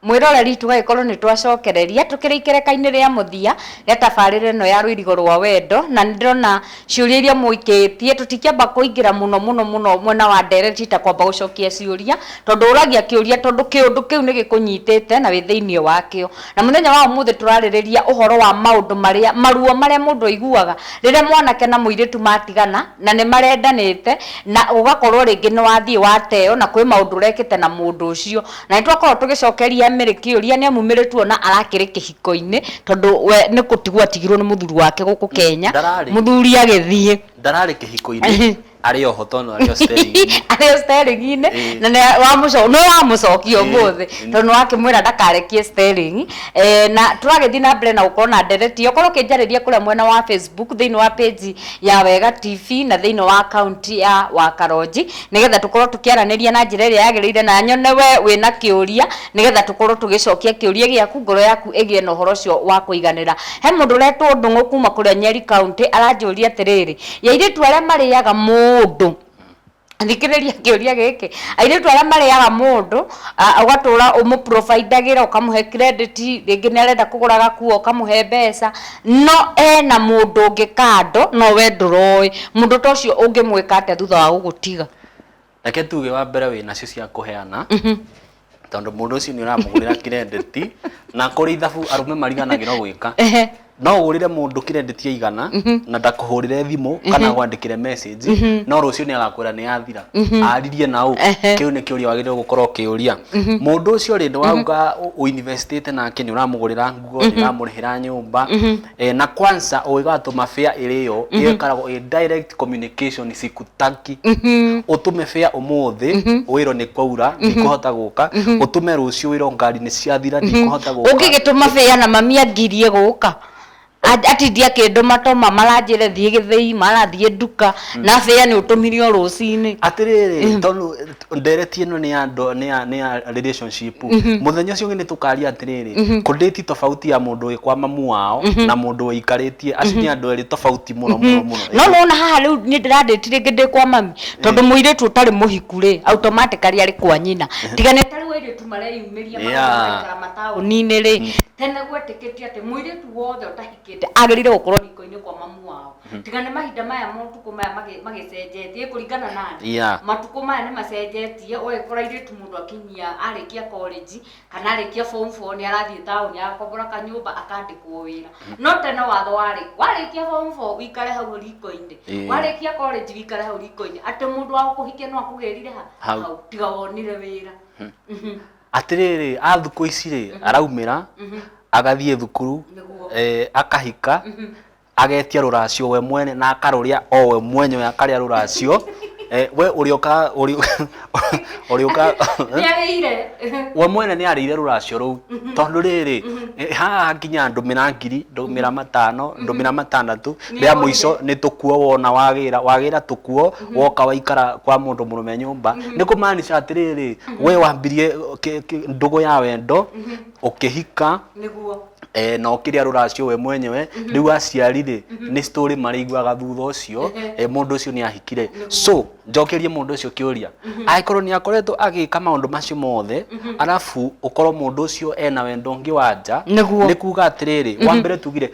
mwĩroreri tũgagĩkorwo nĩ twacokereria tũkĩrĩ ikereka-inĩ rĩa mũthia rĩa tabarĩra ĩno ya rũirigo rwa wendo na nĩ ndĩrona ciũria iria mũikĩtie tũtikĩamba kũingĩra mũno mũno mũno mwena wa ndereti ta kwamba gũcokia ciũria tondũ ũragia kĩũria tondũ kĩũndũ kĩu nĩ gĩkũnyitĩte na wĩ thĩinĩ wakĩo Na mũthenya wa ũmũthĩ tũrarĩrĩria ũhoro wa maũndũ marĩa, maruo marĩa mũndũ aiguaga rĩrĩa mwanake na mũirĩtu matigana na nĩ marendanĩte na ũgakorwo rĩngĩ nĩ wathiĩ wateo na kwĩ maũndũ ũrekĩte na mũndũ ũcio. Na nĩ twakoragwo tũgĩcokeria Mary kĩũria nĩ amu Mary tuona arakĩrĩ kĩhiko-inĩ tondũ we nĩ gũtigwo atigirwo nĩ mũthuri wake gũkũ Kenya, mũthuri agĩthiĩ. Ndararĩ kĩhiko-inĩ. arĩ oho tondũ arĩ o sterĩng'i arĩ o sterĩng'i-inĩ Ĩĩ. na nĩ wamũco- nĩ wamũcokia Ĩĩ, ũmũthĩ ĩĩ. tondũ nĩ wakĩmwĩra ndakarekie sterĩng'i Eh, na tũragĩthiĩ na mbere na gũkorwo na ndereti okorwo ũkĩnjarĩria kũrĩa mwena wa facebook thĩinĩ wa page ya wega tv na thĩinĩ wa akaunti ya wakaronji nĩgetha tũkorwo tũkĩaranĩria na njĩra ĩrĩa yagĩrĩire na nyone we wĩna kĩũria nĩgetha tũkorwo tũgĩcokia kĩũria gĩaku ngoro yaku ĩgĩe na ũhoro ũcio wa kũiganĩra he mũndũ ũretwo ndũng'ũ kuma kũrĩa nyeri kaunti aranjũria atĩrĩrĩ ya airĩtu arĩa marĩaga mũndũ thikĩrĩria kĩũria gĩkĩ airĩtu arĩa marĩaga mũndũ a- ũgatũra ũmũprovidagĩra ũkamũhe credit rĩngĩ nĩ arenda kũgũra gakuo ũkamũhe mbeca no ena mũndũ ũngĩ kando no we ndũroĩ mũndũ ta ũcio ũngĩmwĩka atĩa thutha wa gũgũtiga Reke tuge wa mbere wĩ nacio cia kũheana tondũ mũndũ ũcio nĩ ũramũgũrĩra kirendeti na kũrĩ ithabu arũme mariganagĩrwo gwĩka Ehe. no ũgũrĩre mũndũ kirendeti ya igana na ndakũhũrĩre thimũ kana agwandĩkĩre message no rũciũ nĩ agakwĩra nĩ yathira aririe na ũ Ehe. kĩu nĩ kĩũria wagĩrĩirwo gũkorwo ũkĩũria mũndũ ũcio rĩ nĩ wauga ũinvestĩte nake nĩ ũramũgũrĩra nguo nĩ ũramũrĩhĩra nyũmba Eh, na kwanza ũgĩgatũma fare ĩrĩyo ĩyo ĩkoragwo ĩ direct communication sikutaki ũtũme fare ũmũthĩ wĩrwo nĩ kwaura ndikũhota gũka ũtũme rũciũ wĩrwo ngari nĩ ciathira ndikũhota gũka ũngĩgĩtũma bĩa na mami angirie gũka A- atindi akĩndũma toma maranjĩre thiĩ gĩthĩi marathiĩ nduka na bĩa nĩ ũtũmire o rũcinĩ atĩrĩrĩ tondũ ndereti ĩno nĩ ya ndo- nĩ ya- nĩ ya relationship mũthenya ũcio ũngĩ nĩ tũkaria atĩrĩrĩ kũndĩti tofauti ya mũndũ wĩ kwa mamu wao na mũndũ wĩikarĩtie acio nĩ andũ erĩ tofauti mũno mũno mũno no nona haha rĩu nĩ ndĩrandĩti rĩngĩ ndĩ kwa mami tondũ mũirĩtu ũtarĩ mũhiku rĩ automatically arĩ kwa nyina tiga nĩ tarĩu airĩtu mareyumĩria Yeah. magaikara mataũni-inĩ rĩ tene gwetĩkĩtio atĩ mũirĩtu wothe ũtahikĩte agĩrĩire gũkorwo riko-inĩ kwa mamu wao tiga nĩ mahinda maya motukũ maya magĩ- magĩcenjetie kũringana na thĩ. Yeah. matukũ maya nĩ macenjetie ũgagĩkora airĩtu mũndũ akinyia arĩkia college kana arĩkia form four nĩ arathiĩ taũni agakombora kanyũmba akandĩkwo wĩra no tene watho warĩ warĩkia form four wĩikare hau riko-inĩ Ĩĩ. warĩkia college wĩikare hau riko-inĩ atĩ mũndũ wa gũkũhikia no akũgĩrire ha Hau. hau tiga wonire wĩra Mhm. atĩrĩrĩ a thukũ ici rĩ araumĩra agathiĩ thukuru Nĩguo. eh, akahika agetia rũracio we mwene na akarũrĩa o we mwenyewe akarĩa rũracio eh, we ũrĩoka ũrĩoka we mwene nĩ arĩire rũracio rũu mhm. tondũ rĩrĩ mhm. eh, haha nginya ndũmĩra ngiri ndũmĩra mhm. matano ndũmĩra matandatũ rĩa mũico nĩ tũkuo wona wagĩra wagĩra tũkuo woka waikara kwa mũndũ mũrũme nyũmba nĩ kũmaanisha atĩrĩrĩ we wambirie ndũgũ ya wendo ũkĩhika nĩguo eh, na ũkĩrĩa rũracio we mwenyewe rĩu aciari-rĩ nĩ story marĩiguaga thutha ũcio eh, mũndũ ũcio nĩ ahikire so njokerie mũndũ ũcio kĩũria angĩkorwo nĩ akoretwo agĩka maũndũ macio mothe arabu ũkorwo mũndũ ũcio ena wendo ũngĩ wa nja Nĩguo. nĩ kuga atĩrĩrĩ wa mbere tugire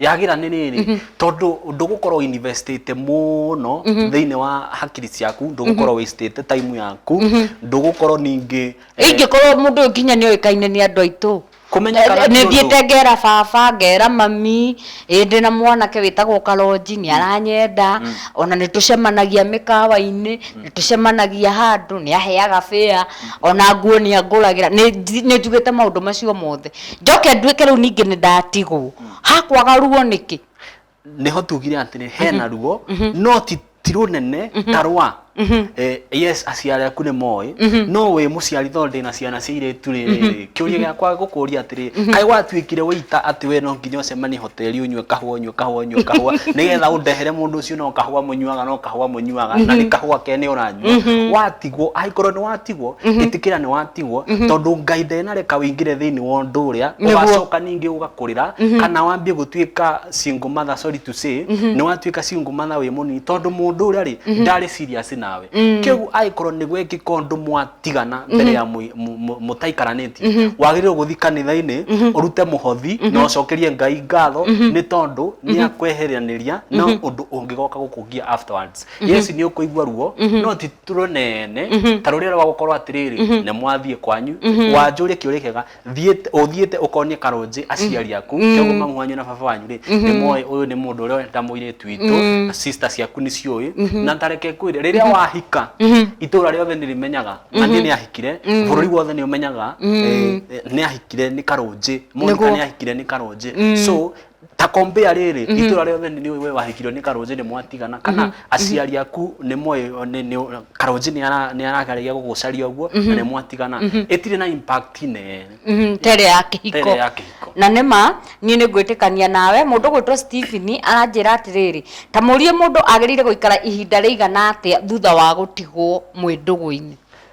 yagira nä rä rä tondå ndå gå korwo investĩte mũno thä-inä wa hakiri ciaku ndå gå korwo wastĩte time yaku ndå gå korwo ningä ingĩkorwo mũndũ ũyũ nginya nĩ oĩkaine nĩ andũ aitũ Kũmenya kana nĩ nĩ ũndũ- thiĩte ngera baba ngera mami ĩ ndĩ na mwanake wĩtagwo karonji nĩ aranyenda ona nĩ tũcemanagia mĩkawa-inĩ nĩ tũcemanagia handũ nĩ aheaga bĩa ona nguo nĩ angũragĩra nĩ nji- nĩ njugĩte maũndũ macio mothe njoke nduĩke rĩu ningĩ nĩ ndatigwo hakwaga ruo nĩkĩ nĩho tugire atĩrĩ hena ruo no ti ti rũnene ta rwa Eh, yes aciari aku nĩ moĩ no wĩ mũciari tondũ ndĩna ciana cia irĩtu rĩrĩ kĩũria gĩakwa gũkũria atĩrĩ kaĩ watuĩkire wĩita atĩ we no nginya ũcemanie teri unywe kahua unywe kahua unywe kahua nigetha undehere mundu ucio no kahua munyuaga no kahua munyuaga na ni kahua kene uranyua watigwo angikorwo ni watigwo itikira ni watigwo tondu ngai ndenareka wingire thiini wa undu uria Nĩguo. ugacoka ningi ugakurira kana wambie gutuika single mother sorry to say ni watuika single mother wi munini tondu mundu uria ri ndari serious nawe kiu angikorwo ni gwekika undu mwati tigana mbere ya mũi- mũ- mũ- mũtaikaranĩtie wagĩrĩirwo gũthi kanitha-inĩ ũrute mũhothi na ũcokerie ngai ngatho nĩ tondũ nĩ akweheranĩria na ũndũ ũngĩgoka gũkũgia afterwards yesu nĩ ũkũigua ruo no ti tũrũnene ta rũrĩa rwa gũkorwo atĩrĩrĩ nĩ mwathiĩ kwanyu wanjũria kĩũria kĩega thiĩte ũthiĩte ũkonie karũnjĩ aciari aku kĩogo mamu wanyu na baba wanyu rĩ nĩ moĩ ũyũ nĩ mũndũ ũrĩa wendete mũirĩtu witũ na sister ciaku nĩ ciũĩ na ndareke kwĩre rĩrĩa wahika itũũra rĩothe nĩ rĩmenyaga na niĩ nĩ ahikire bũrũri wothe nĩ ũmenyaga eh, eh, nĩ ahikire nĩ karũnjĩ monika Nĩguo. nĩ ahikire nĩ karũnjĩ so ta compare rĩrĩ Mhm. itũra rĩothe nĩ we wahikirwo nĩ karũnjĩ nĩ mwatigana kana aciari aku nĩ moĩ nĩ- nĩ- karũnjĩ nĩ ara- nĩ arageragia gũgũcaria ũguo na nĩ mwatigana ĩtirĩ na impact nene Mhm, tere ya kĩhiko tere ya kĩhiko na nĩ ma niĩ nĩ ngwĩtĩkania nawe mũndũ gwĩtwo Stephen aranjĩra atĩrĩrĩ ta mũrie mũndũ agĩrĩire gũikara ihinda rĩigana atĩa thutha wa gũtigwo mwĩ ndũgũ-inĩ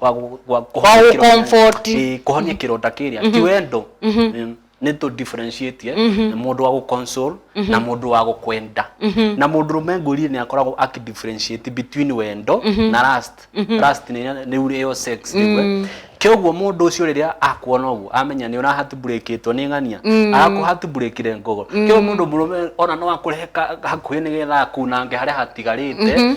wa gu- gwa- Wa kũhonia kĩronda- gũcomfort. Ĩĩ, kũhonia kĩronda kĩrĩa ti wendo Ĩĩ, nĩ tũ differentiate eh, na mũndũ wa gũconsole na mũndũ wa gũkwenda na mũndũ rũme ngũrie nĩ akoragwo aki differentiate between wendo na last last nĩ nĩ ure yo sex rĩu, eh. kĩoguo mũndũ ũcio rĩrĩa akuona ũguo amenya nĩ ũrahatburĩkĩtwo nĩ ng'ania arakũhatburĩkire ngogo kĩoguo mũndũ mũrũme ona no akũrehe ka- hakuhĩ nĩgetha akunange harĩa hatigarĩte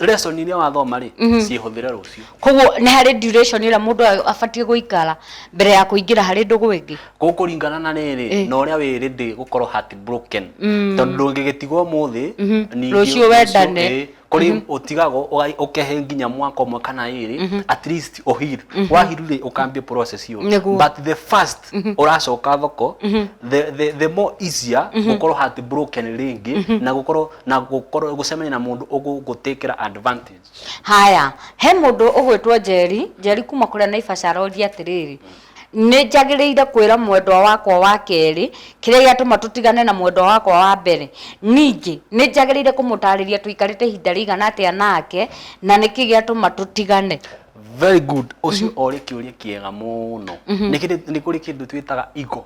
lesson iria wathoma rĩ mm -hmm. cihũthĩre rũciũ koguo nĩ harĩ duration ĩrĩa mũndũ abatiĩ gũikara mbere ya kũingĩra harĩ ndũgũ ĩngĩ gũkũringana na rĩrĩ eh. na ũrĩa wĩ rĩndĩ gũkorwo heart broken mm. tondũ ndũngĩgĩtigwo mũthĩ mm -hmm. rũciũ wendane eh, kuri mm -hmm. utigago ukehe nginya mwaka umwe kana iri mm -hmm. at least uhir mm -hmm. wahiru ri ukambie process yo but the first mm -hmm. uracoka thoko mm -hmm. the, the, the more easier mm -hmm. gukorwo heart broken ringi mm -hmm. na gukorwo na gũkorwo gũcemania na mũndũ ũgũgũtĩkĩra advantage haya he mũndũ ũgwĩtwo njeri njeri kuma kũrĩa naibaca aroria atĩrĩrĩ nĩ njagĩrĩire kwĩra mwendwa wakwa wa kerĩ kĩrĩa gĩatũma tũtigane na mwendwa wakwa wa mbere ningĩ nĩ njagĩrĩire kũmũtarĩria tũikarĩte ihinda rĩigana atĩa nake na nĩkĩ gĩatũma tũtigane very good ũcio orĩ kĩũria kĩega mũno nĩ kĩndũ- nĩ kũrĩ kĩndũ twĩtaga igo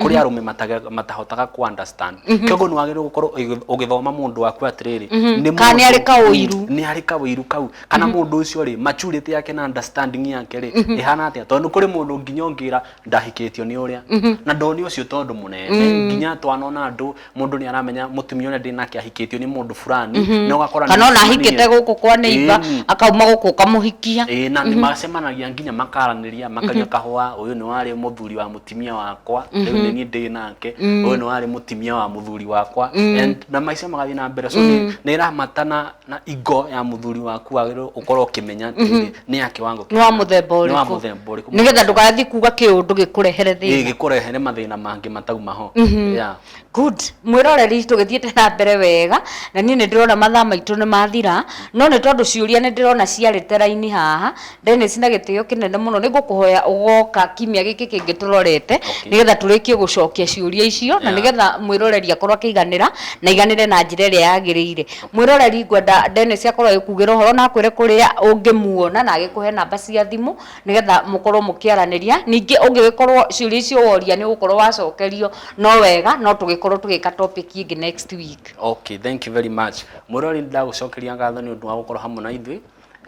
kuri mm-hmm. arume mataga matahotaga ku understand mm-hmm. kyogo nwagiru gukorwo ugithoma mundu waku atiriri mm-hmm. ni kana ari kawiru ni ari kawiru kau kana mundu ucio ri maturity yake na understanding yake ri ihana atia tondu kuri mundu nginyongira ndahikitio ni uria na ndoni ucio tondu munene nginya twanona andu mundu ni aramenya mutumia uria ndinake ahikitio ni mundu fulani Mhm. na ugakora kana ona ahikite guku kwa neiba Ĩni. akauma guku ukamuhikia ĩĩ na nĩ macemanagia nginya makaranĩria makanyua kahũa ũyũ nĩ warĩ mũthuri wa mũtumia wakwa rĩu nĩ niĩ ndĩ nake ũyũ nĩ warĩ mũtumia wa mũthuri wakwa And na maica magathiĩ na mbere so nĩ- nĩ ĩramatana na ingo ya muthuri waku wagĩrĩirwo ũkorwo ũkĩmenya atĩrĩrĩ nĩ ya kĩwango nĩ wa kĩigana, mũthemba nĩ wa ũrĩkũ mũthemba ũrĩkũ nĩgetha ndũgathiĩ kuga kĩũndũ gĩkũrehere thĩna gĩkũrehere mathĩna mangĩ matauma ho Yeah. good mwĩroreri tũgĩthiĩte na mbere wega na niĩ nĩ ndĩrona mathaa maitũ nĩ mathira no nĩ tondũ ciũria nĩ ndĩrona ciarĩte raini haha Dennis na gĩtĩo kĩnene mũno nĩ ngũkũhoya ũgoka kiumia gĩkĩ kĩngĩ tũrorete okay. nĩgetha tũrĩkie gũcokia ciũria icio yeah. na nĩgetha mwĩroreri akorwo akĩiganĩra na iganĩre na njĩra ĩrĩa yagĩrĩire mwĩroreri ngwenda Dennis akorwo agĩkugĩra ũhoro na akwĩre kũrĩa ũngĩmuona na agĩkũhe namba cia thimũ nĩgetha mũkorwo mũkĩaranĩria ningĩ ũngĩgĩkorwo ciũria icio woria nĩ ũgũkorwo wacokerio no wega no tũgĩkorwo tũgĩka topic ĩngĩ next week okay thank you very much mwĩroreri ndagũcokeria ngatho nĩ ũndũ wa gũkorwo hamwe na ithuĩ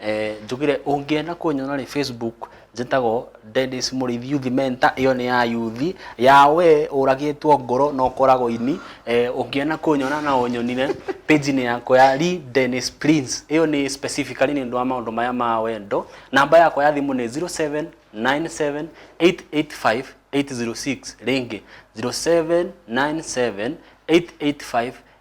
Eh, njugire ũngĩenda kũnyona rĩ facebook njĩtagwo Dennis Mũrĩithi Youth Mentor ĩyo nĩ ya yuthi ya we ũragĩtwo ngoro na ũkoragwo ini eh, ũngĩenda kũnyona na ũnyonire page-inĩ yakwa ya Lee Dennis Prince ĩyo nĩ specifically nĩ ũndũ wa maũndũ maya ma wendo namba yakwa ya thimũ nĩ 0797885806 rĩngĩ 0797885806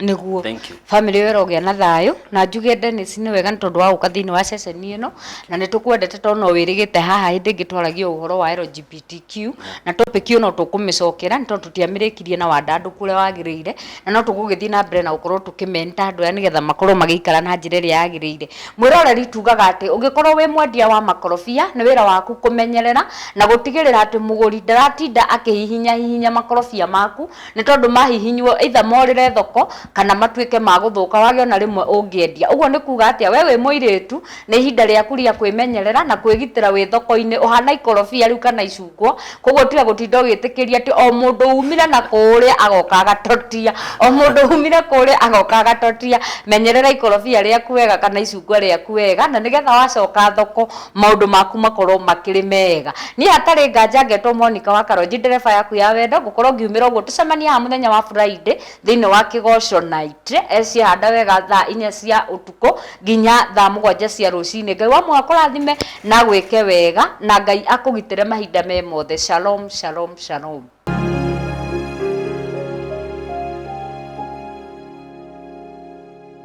nĩguo Thank you. family ĩyo ĩrogĩa na thayũ na njuge Dennis nĩ wega nĩ tondũ wa gũka thĩinĩ wa ceceni ĩno na nĩ tũkwendete tondũ no wĩrĩgĩte haha hĩndĩ ĩngĩ twaragia ũhoro wa LGBTQ na topic ĩyo no tũkũmĩcokera nĩ tondũ tũtiamĩrĩkirie na wandandũku ũrĩa wagĩrĩire na no tũgũgĩthiĩ na mbere na gũkorwo tũkĩmenta andũ aya nĩgetha makorwo magĩikara na njĩra ĩrĩa yagĩrĩire mwĩroreri tugaga atĩ ũngĩkorwo wĩ mwendia wa makorobia nĩ wĩra waku kũmenyerera na gũtigĩrĩra atĩ mũgũri ndaratinda akĩhihinya hihinya makorobia maku nĩ tondũ mahihinywo either morĩre thoko kana matuĩke ma gũthũka wage ona rĩmwe ũngĩendia. Ũguo nĩ kuuga atĩa? Wee wĩ mũirĩtu, nĩ ihinda rĩaku rĩa kwĩmenyerera na kwĩgitĩra wĩ thoko-inĩ. Ũhana ikorobia rĩu kana icungwa, kũguo tiga gũtinda ũgĩtĩkĩria atĩ o mũndũ umire na kũũrĩa agoka agatotia, o mũndũ umire kũũrĩa agoka agatotia. Menyerera ikorobia rĩaku wega kana icungwa rĩaku wega na nĩgetha wacoka thoko, maundu maku makorwo makiri mega ni hatari nganja ngetwo Monica wa Karonji ndereba yaku ya wendo ngukorwo ngiumira uguo tucemanie haha muthenya wa Friday thiini wa kigoco night ecihanda wega thaa inya cia utuko nginya thaa mugwanja cia rucini ngai wa muha kurathime na gwike wega na ngai akugitire mahinda me mothe shalom shalom shalom